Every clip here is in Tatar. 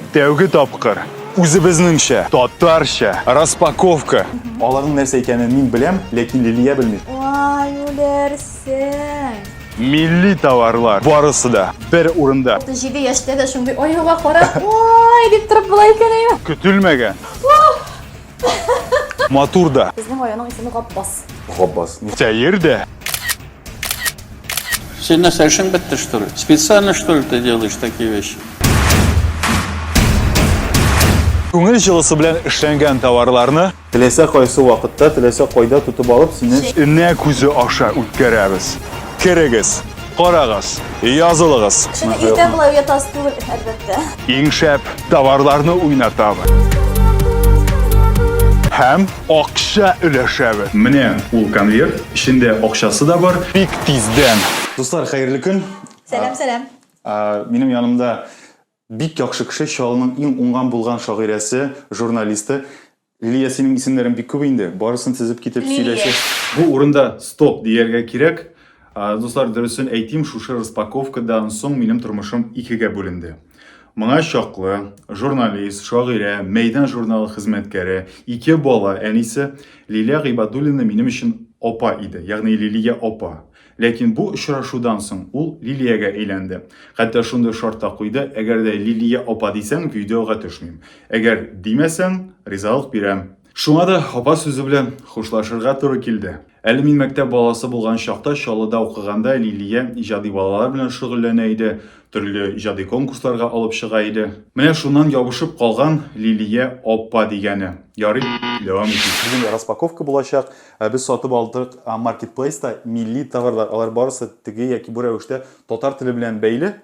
Тәүге тапкыр үзебезнеңчә, татарча распаковка. Аларның нәрсә икәнен мин беләм, ләкин Лилия белми. Вай, үләрсең. Милли товарлар барысы да бер урында. 37 яшьтә дә шундый оюга карап, ой, дип торып була икән әйе. Көтелмәгән. Матур да. Безнең районның исеме Гапбас. Гапбас. Сәер дә. Син нәрсә эшең бетте, что ли? Специально, что ли, ты делаешь такие вещи? Күңел җылысы белән эшләнгән товарларны Теләсә кайсы вакытта, теләсә кайда тотып алып, синнән энә күзе аша үткәрәбез. Керегез, карагыз, язылыгыз. Иртә болай уятасы түгел, әлбәттә. Иң шәп товарларны уйнатабыз. Һәм акча өләшәбез. Менә ул конверт, эчендә акчасы да бар. Бик тиздән. Дуслар, хәерле көн. Сәлам, сәлам. Минем янымда бик яхшы кеше, Чаллының иң уңган-булган шагыйрәсе, журналисты Лилия, синең исемнәрең бик күп инде. Барысын тезеп китеп сөйләсә. Бу урында стоп дияргә кирәк. Дуслар, дөресен әйтим, шушы распаковкадан соң минем тормышым икегә бүленде. Моңа чаклы журналист, шагыйрә, Мәйдан журналы хезмәткәре, ике бала әнисе Лилия Гыйбадуллина минем өчен апа иде, ягъни Лилия апа. Ләкин бу очрашудан соң ул Лилиягә әйләнде. Хәтта шундый шарт та куйды, әгәр дә Лилия апа дисәң, видеога төшмим. Әгәр димәсәң, ризалык бирәм. Шуңа да апа сүзе белән хушлашырга туры килде. Әле мин мәктәп баласы булган чакта Чаллыда укыганда Лилия иҗади балалар белән шөгыльләнә иде, төрле иҗади конкурсларга алып чыга иде. Менә шуннан ябышып калган Лилия апа дигәне. Ярый, дәвам итик. Бүген распаковка булачак. Ә без сатып алдык маркетплейста милли товарлар, алар барысы теге яки бу рәвештә татар теле белән бәйле.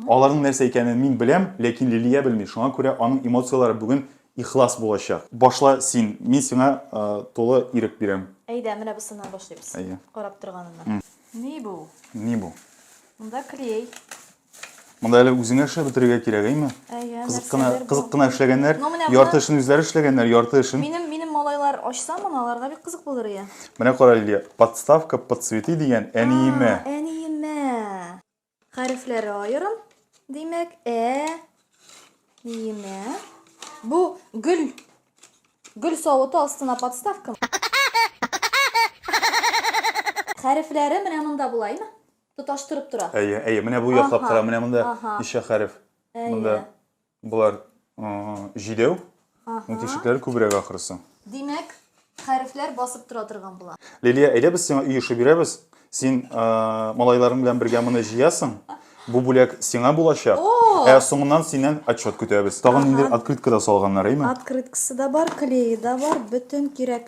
Аларның нәрсә икәнен мин беләм, ләкин Лилия белми, шуңа күрә аның эмоцияләре бүген ихлас булачак. Башла син, мин сиңа тулы ирек бирәм. Әйдә, менә бусыннан башлыйбыз, карап торганыннан. Ни бу? Ни бу? Монда клей. Монда әле үзеңә эшләп бетерергә кирәк, әйме? Әйе, кызык кына, нәрсәдер бу. кызык кына эшләгәннәр, Ну, менә ярты бына- эшен үзләре эшләгәннәр, ярты эшен. Минем минем малайлар ачса моны, аларга бик кызык булыр ия. Менә кара, Лилия, подставка под цветы дигән әниемә. А, Әниемә. Хәрефләре аерым. Димәк, ә ниемә. Бу гөл гөл савыты астына подставка. Хәрефләре менә монда була, әйме? Тоташтырып тора. Әйе, әйе, менә бу яклап Аһа, кара, менә монда аһа. ничә хәреф. Әйе. Монда болар м, җидәү, Аһа. ну тишекләре күбрәк ахрысы. Димәк, хәрефләр басып тора торган була. Лилия, әйдә без сиңа өй эше бирәбез. Син э, малайларың белән бергә моны җыясың. Бу бүләк сиңа булачак. О! Ә соңыннан синнән отчет көтәбез. Тагын Аһа. инде открытка да салганнар, әйме? Открыткасы да бар, клее да бар, бөтен кирәк.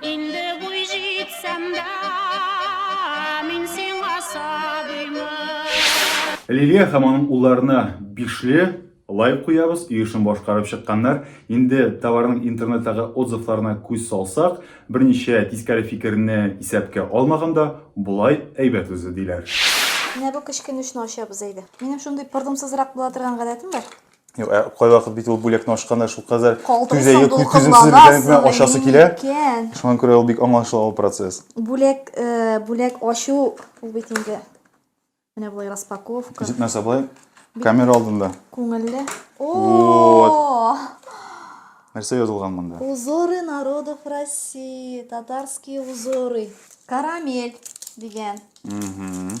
Инде буй җитсәм дә, мин сиңа сабыймын. Лилия һәм аның улларына бишле лайк куябыз, өй эшен башкарып чыкканнар. Инде товарның интернеттагы отзывларына күз салсак, берничә тискәре фикерне исәпкә алмаганда, болай әйбәт үзе, диләр. Менә бу кечкенүшне ачабыз әйдә. Минем шундый пырдымсызрак була торган гадәтем бар. Юк, ә кайвакыт бит ул бүләкне ачканда шулкадәр түзәе түземсез икәнлекне ачасы килә. Шуңа күрә ул бик аңлашыла ул процесс. Бүләк, э, бүләк ачу ул бит инде менә болай распаковка. Җитмәсә болай камера алдында. Күңелле. О! Нәрсә язылган монда? Узоры народов России, татарские узоры. Карамель дигән. Угу.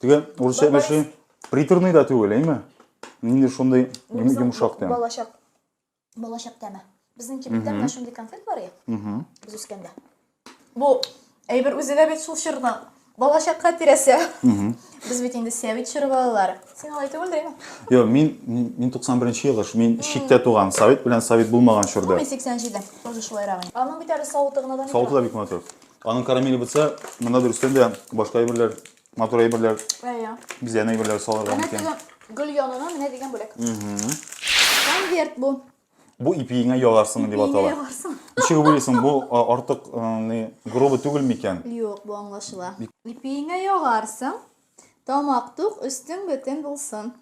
Теге урысча әйберше приторный да түгел, әйме? Нинди шундый йомшак тәм. Балачак. Балачак тәме. Безнең кибеттә менә шундый конфет бар я. Без үскәндә. Бу әйбер үзе дә бит шул чорда. Балачакка тирәсе. Без бит инде Сәвит чоры балалары. Син алай түгел дә. Йо, мин мин 91нче ел, мин читтә туган. Сәвит белән Сәвит булмаган чорда. Мин 87-дә. Тоже шулайрак. Аның бит әле савыты гына да мин. Савыты да бик матур. Аның карамеле бутса, монда дөрестән дә башка әйберләр, матур әйберләр. Әйе. Бизән әйберләр салырга мөмкин. Гөл янына менә дигән бүләк. Конверт бу. Бу ипиеңә яларсың дип атала. Ипиеңә яларсың. Ничек уйлыйсың, бу артык грубы түгел микән? Юк, бу аңлашыла. Ипиеңә яларсың, тамак тук, өстең бөтен булсын.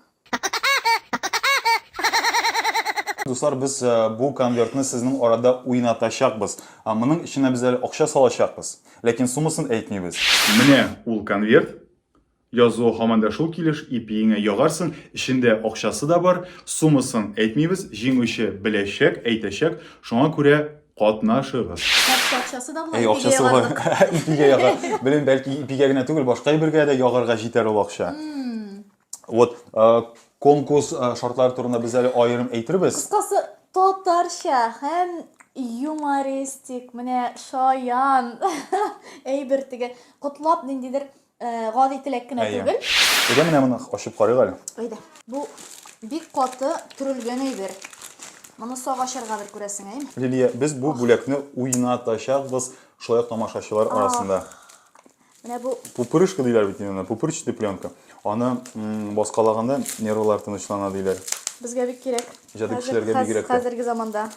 Дуслар, без бу конвертны сезнең арада уйнатачакбыз. Моның эченә без әле акча салачакбыз. Ләкин суммасын әйтмибез. Менә ул конверт. Язуы һаман да шул килеш, ипиеңә ягарсың, эчендә акчасы да бар, суммасын әйтмибез, җиңүче беләчәк, әйтәчәк, шуңа күрә катнашыгыз. Хәтта акчасы да була, Әй, ипигә акчасы бар. ягарлык. Ипигә яга. Белмим, бәлки ипигә генә түгел, башка әйбергә дә ягарга җитәр ул акча. Вот, э, конкурс э, шартлары турында без әле аерым әйтербез. Кыскасы, татарча һәм юмористик, менә шаян әйбер теге, котлап ниндидер Э, гади теләк кенә Әйе. түгел. Әйдә менә моны ачып карыйк әле. Әйдә. Бу бик каты төрелгән әйбер. Моны сак ачарга бер күрәсең, әйме? Лилия, без бу бүләкне уйнатачакбыз шулай ук тамашачылар арасында. Менә бу пупырышка диләр бит инде, пупырчатый пленка. Аны баскалаганда нервлар тынычлана диләр. Безгә бик кирәк. Җәди кешеләргә бигрәк. Хәзерге заманда.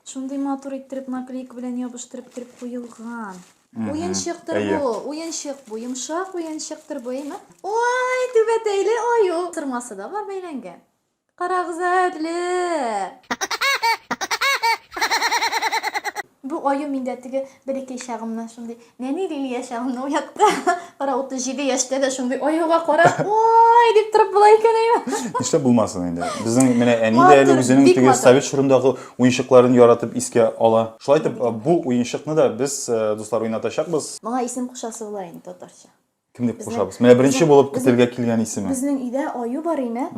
Шундый матур иттереп наклейка белән ябыштырып торып куелган. Уенчыктыр Әйе. бу, уенчык бу, йомшак уенчыктыр бу, әйме? Ой, түбәтәйле аю. Сырмасы да бар бәйләнгән. Карагыз әле. Бу аю миндә теге бәләкәй чагымнан шундый нәни лилия чагымны уятты. Кара 37 яшьтә дә шундый аюга карап, ой, дип торып була икән әйме? Нишләп булмасын инде? Безнең менә әни дә әле Матур, үзенең бик теге матур. совет чорындагы уенчыкларын яратып искә ала. Шулай итеп, э, бу уенчыкны да без, э, дуслар, уйнатачакбыз. Моңа исем кушасы була инде татарча. Кем дип кушабыз? Менә беренче булып көтелгә килгән исеме. Безнең өйдә аю бар ине.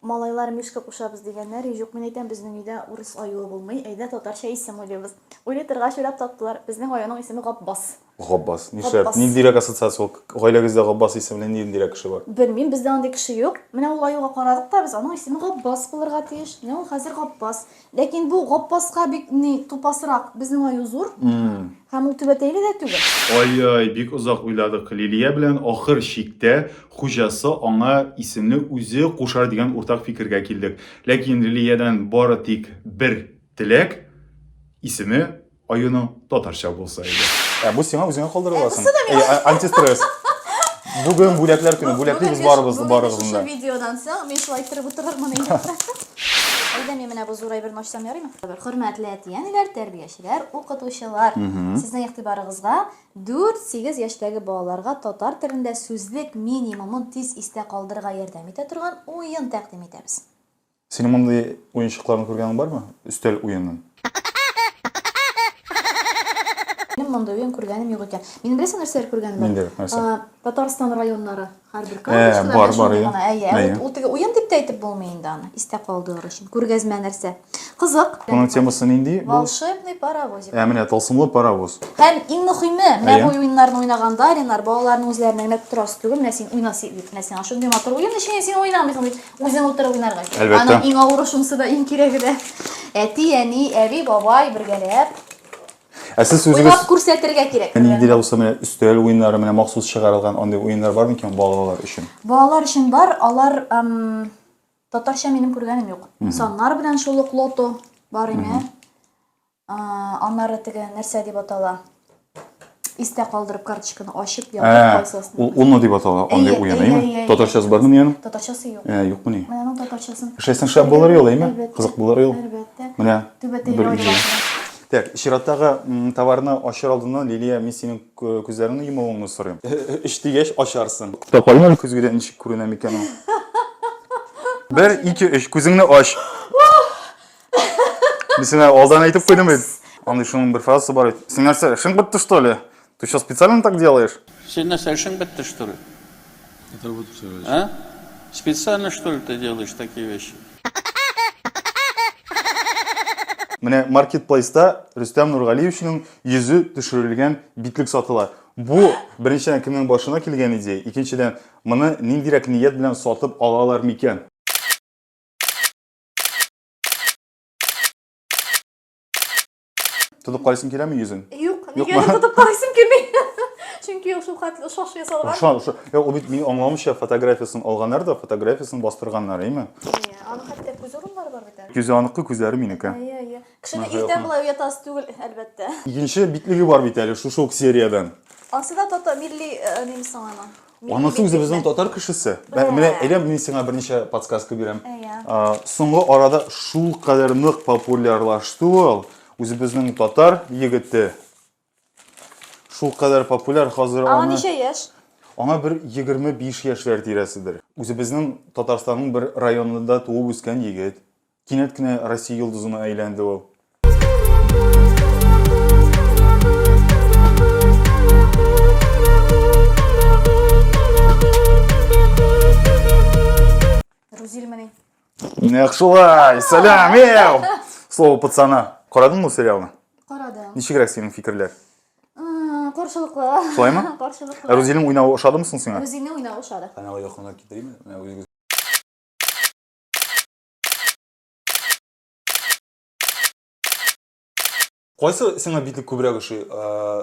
Малайлар мишка кушабыз дигәннәр, юк, мин әйтәм, безнең өйдә урыс аюы булмый, әйдә татарча исем уйлыйбыз. Уйлый торгач уйлап таптылар, безнең аюның исеме Гапбас. Габбас. Нишләп? Габбас. Ниндирәк ассоциация ул? Гаиләгездә Габбас исемле ниндирәк кеше бар? Белмим, бездә андый кеше юк. Менә ул аюга карадык та без, аның исеме Габбас булырга тиеш. Менә ул хәзер Габбас. Ләкин бу Габбаска бик ни тупасрак. Безнең аю зур. Һәм ул түбәтәйле дә түгел. Ай-яй, бик озак уйладык Лилия белән, ахыр чиктә хуҗасы аңа исемне үзе кушар дигән уртак фикергә килдек. Ләкин Лилиядән бары тик бер теләк, исеме Аюның татарча булса иде. Ә бу сиңа үзеңә калдырыласың. Э, а- Антистресс. Бүген бүләкләр көне. Бүләклибез барыбыз барыгызны да. видеодан соң мин шулай торып утырырмын инде. Әйдә мин менә бу зур әйберне ачсам ярыймы? Хөрмәтле әти-әниләр, тәрбиячеләр, укытучылар. Сезнең игътибарыгызга 4-8 яшьтәге балаларга татар телендә сүзлек минимумын тиз истә калдырырга ярдәм итә торган уен тәкъдим итәбез. Синең мондый уенчыкларны күргәнең бармы? Өстәл уенын. Минем мондый уен күргәнем юк икән. Мин беләсең нәрсәләр күргәнем бар? Нинди, нәрсә? А, Татарстан районнары һәрбер Ә, карточкада бар, бар, шундый иә. гына. Әйе, ә Әйе. вот ул теге уен дип тә әйтеп булмый инде аны. Истә калдырыр өчен. Күргәзмә нәрсә. Кызык. Моның темасы нинди? Бу Волшебный паровозик. ә менә тылсымлы паровоз. Һәм иң мөхиме, менә Әйе. бу уеннарны уйнаганда, Ренар, балаларның үзләренә генә торасы түгел, менә син уйна си- дип, менә сиңа шундый матур уен, ничек инде син уйнамыйсың дип. Үзең утырып уйнарга кирәк. Әлбәттә. Аның иң авыры шунысы да, иң кирәге дә. Әти, әни, әби, бабай бергәләп Ә сез үзегез уйлап күрсәтергә кирәк. Әни дилә булса менә өстәл уеннары менә махсус чыгарылган андый уеннар бар микән балалар өчен? Балалар өчен бар, алар ам, татарча минем күргәнем юк. Саннар белән шул ук лото бар ине. Аннары теге нәрсә дип атала? Истә калдырып карточканы ачып ятып калсасың. Ул уно дип атала, андый уен, әйме? Татарчасы бармы ниянең? Татарчасы юк. Ә, юкмы ни? Менә аның татарчасын. Эшләсәң шәп булыр ел, әйме? Кызык булыр ел. Әлбәттә. Менә. Түбәтәйле уйнарга. Так, чираттагы товарны ачыр алдыннан, Лилия, мин синең күзләреңне йомуыңны сорыйм. Өч дигәч ачарсың. Тукта, каен әле көзгедә ничек күренә микән ул? Бер, ике, өч, күзеңне ач. Мен сиңа алдан әйтеп куйдым бит. Андый шуның бер фразасы бар бит. Син нәрсә, эшең бетте что ли? Ты что, специально так делаешь? Син нәрсә, эшең бетте что ли? Это вот все. А? Специально что ли ты делаешь такие вещи? Менә маркетплейста Рөстәм Нургалиевичның йөзе төшерелгән битлек сатыла. Бу беренчедән кемнең башына килгән идея, икенчедән моны ниндирәк ният белән сатып алалар микән? Тотып карыйсың киләме йөзен? Юк, нигә тотып карыйсың килми? Чөнки ул шулкатлы шаш ясалган. Аша, аша. Я ул бит мин аңламыйча фотографиясен алганнар да фотографиясен бастырганнар, әйме? Иә, аны хәтта күз урыннары бар бит. Күзе аныкы, күзләре минеке. Иә, иә. Кешене иртән була уятасы түгел, әлбәттә. Икенче битлеге бар бит әле шушы ук сериядән. Асы да тото милли э, нимсың аны. Анысы үзе безнең татар кешесе. Менә әйдә мин сиңа берничә подсказка бирәм. Соңгы арада шул кадәр нык популярлашты ул, үзебезнең татар егете. Шул кадәр популяр хәзер аны. Аңа ничә яшь? Аңа бер 25 яшьләр тирәседер. Үзебезнең Татарстанның бер районында туып үскән егет. Кинәт кенә Россия йолдызына әйләнде ул. Рузильмани. Нәк шулай! Сәлам, ел! Слово пацана. Карадың бу сериалны? Карадым. Ничегрәк синең фикерләр? Каршылыклы. Шулаймы? Каршылыклы. Рузилнең уйнавы ошадымы соң сиңа? Рузилнең уйнавы ошады. Каналга якынрак китеримме? Кайсы сиңа битлек күбрәк ошый?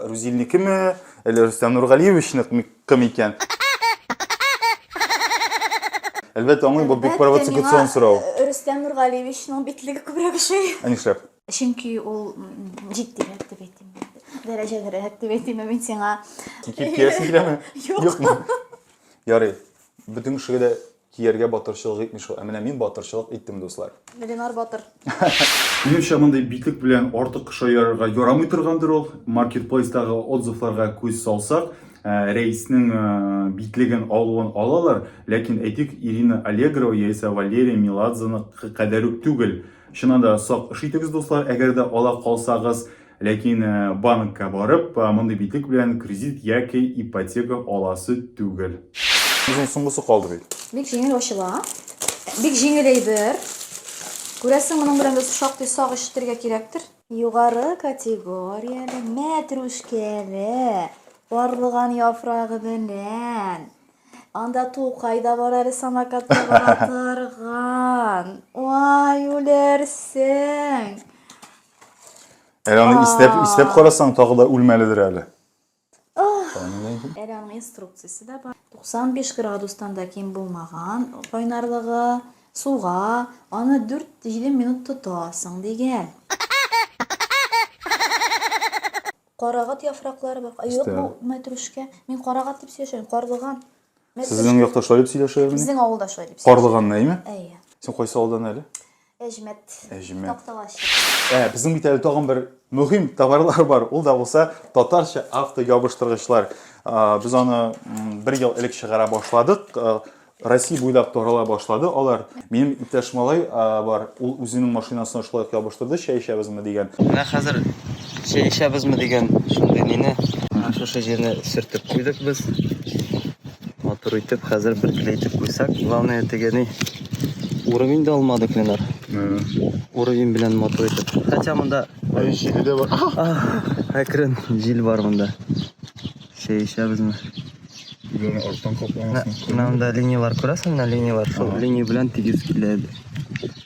Рузильникеме, әллә Рустам Нургалиевичныкмы кем икән? Әлбәттә, аңлыйм, бу бик провокацион сорау. Э, Рустам Нургалиевичның битлеге күбрәк ошый. Ә нишләп? Чөнки ул җитдирәк дип әйтим. Дәрәҗәлерәк дип әйтим мин сиңа. Кипкиясең киләме? Юкмы? Ярый. Бөтен кешегә дә Кияргә батырчылык итми шул. Ә менә мин батырчылык иттем, дуслар. Ленар батыр. Минемчә, мондый битлек белән артык шаярырга ярамый торгандыр ул. Маркетплейстагы отзывларга күз салсак, Рәиснең битлеген алуын алалар, ләкин әйтик, Ирина Аллегрова яисә Валерия Меладзеныкы кадәр үк түгел. Чыннан да сак эш итегез, дуслар, әгәр дә ала калсагыз. Ләкин банкка барып, мондый битлек белән кредит яки ипотека аласы түгел. Үзенең соңгысы калды бит. Бик җиңел ачыла. Бик җиңел әйбер. Күрәсең, моның белән дә шактый сак эш итәргә кирәктер. Югары категорияле мәтрүшкәле барлыган яфрагы белән. Анда Тукай да бар әле самокатта бара торган. Ай, үләрсең! Әле аны истәп, истәп карасаң, тагы да үлмәледер әле. Әле аның инструкциясе дә бар. 95 градустан да ким булмаган кайнарлыгы, суга, аны 4-7 минут тотасың дигән. Карагат яфраклары бар. Юк бу мәтрүшкә. Мин карагат дип сөйләшәм, карлыган. Сезнең якта шулай дип сөйләшәләр мени? Безнең авылда шулай дип. Карлыган нәйме? Әйе. Син кайсы авылдан әле? Әҗмәт. Әҗмәт. Такталаш. Ә, безнең бит әле тагын бер мөһим товарлар бар. Ул да булса татарча автоябыштыргычлар. Без аны бер ел элек чыгара башладык. Россия буйлап тарала башлады алар. Минем иптәш малай бар, ул үзенең машинасына шулай ябыштырды, чәй эчәбезме дигән. Менә хәзер Чәешәбезме дигән шундый мине. Шушы җирне сөртеп куйдык без. Матур итеп, хәзер бер киле итеп куйсак. Главное, тегени уровень да алмадык, Ленар. Уровень белән матур итеп. Хотя монда... Ай, җиле дә бар. Әкрен, җил бар монда. Чәешәбезме? Гөләне арттан капламасын. Мында линиялар күрәсең, мына линиялар. Шул линия белән тигез килә.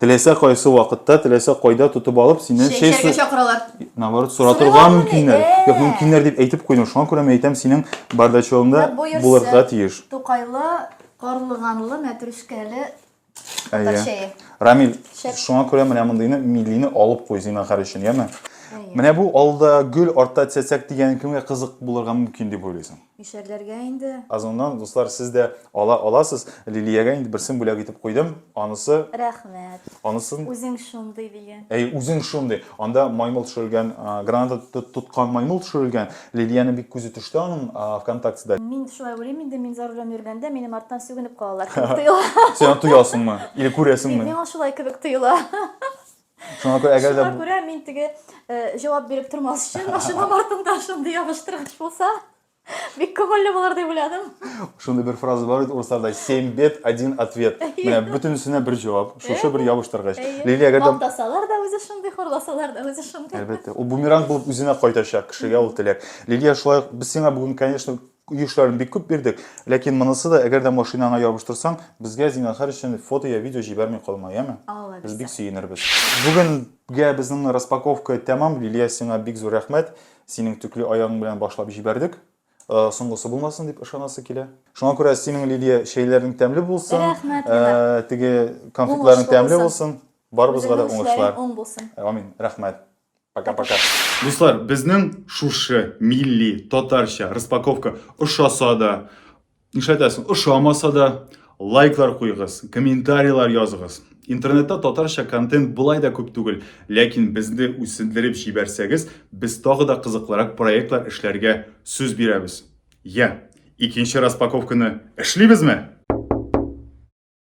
Теләсә кайсы вакытта, теләсә кайда тотып алып, синнән чәй Чәчәргә су... чакыралар. Наоборот, соратырга Сорыйлар мөмкиннәр. мени? Ә. Юк, мөмкиннәр дип әйтеп куйдым. Шуңа күрә мин әйтәм, синең бардачогыңда Менә боерсын. булырга тиеш. Тукайлы, карлыганлы, мәтрүшкәле татар Әйе. чәе. Рамил, Шәп. шуңа күрә менә мондыйны милине алып куй зинахар өчен, яме? Әйе. Менә бу алда гөл, артта цәцәк дигән кемгә кызык булырга мөмкин дип уйлыйсың? Ишәрләргә инде. Озоннан, дуслар, сез дә ала аласыз. Лилиягә инде берсен бүләк итеп куйдым. Анысы. Рәхмәт. Анысын. Үзең шундый дигән. Әй, үзең шундый. Анда маймыл төшерелгән, граната тоткан маймыл төшерелгән. Лилиянең бик күзе төште аның ВКонтактеда. Мин шулай уйлыйм инде, мин за рулем йөргәндә, минем арттан сүгенеп калалар кебек тоела. Син аны тоясыңмы? Или күрәсеңме? Миңа шулай кебек тоела. Шуңа күрә әгәр дә Шуңа күрә мин теге э, җавап биреп тормас өчен машинам артында шундый ябыштыргыч булса бик күңелле булыр дип уйладым. Шундый бер фраза бар бит урысларда 7 бет, 1 ответ. Менә бөтенесенә бер җавап, шушы бер ябыштыргыч. Лилия әгәр дә Мактасалар да үзе шундый, хурласалар да үзе шундый. Әлбәттә, ул бумеранг булып үзенә кайтачак кешегә ул теләк. Лилия, шулай ук без сиңа бүген, конечно, Юшларын бик күп бирдек, ләкин монысы да, әгәр дә машинаңа ябыштырсаң, безгә зинахар өчен фото я видео җибәрми калма, яме? Алла Без бик сөенербез. Бүгенгә безнең распаковка тәмам, Лилия, сиңа бик зур рәхмәт. Синең төкле аягың белән башлап җибәрдек. Э, соңгысы булмасын дип ышанасы килә. Шуңа күрә синең, Лилия, чәйләрең тәмле булсын. Рәхмәт, э, Лилия. Теге конфетларың тәмле булсын. Барыбызга да уңышлар. Амин. Рәхмәт. Пока-пока. Дуслар, безнең шушы милли татарча распаковка ошаса да, нишләтәсең, ошамаса да, лайклар куйгыз, комментарийлар языгыз. Интернетта татарча контент былай да күп түгел, ләкин безне үсендереп җибәрсәгез, без тагы да кызыклырак проектлар эшләргә сүз бирәбез. Я, икенче распаковканы эшлибезме?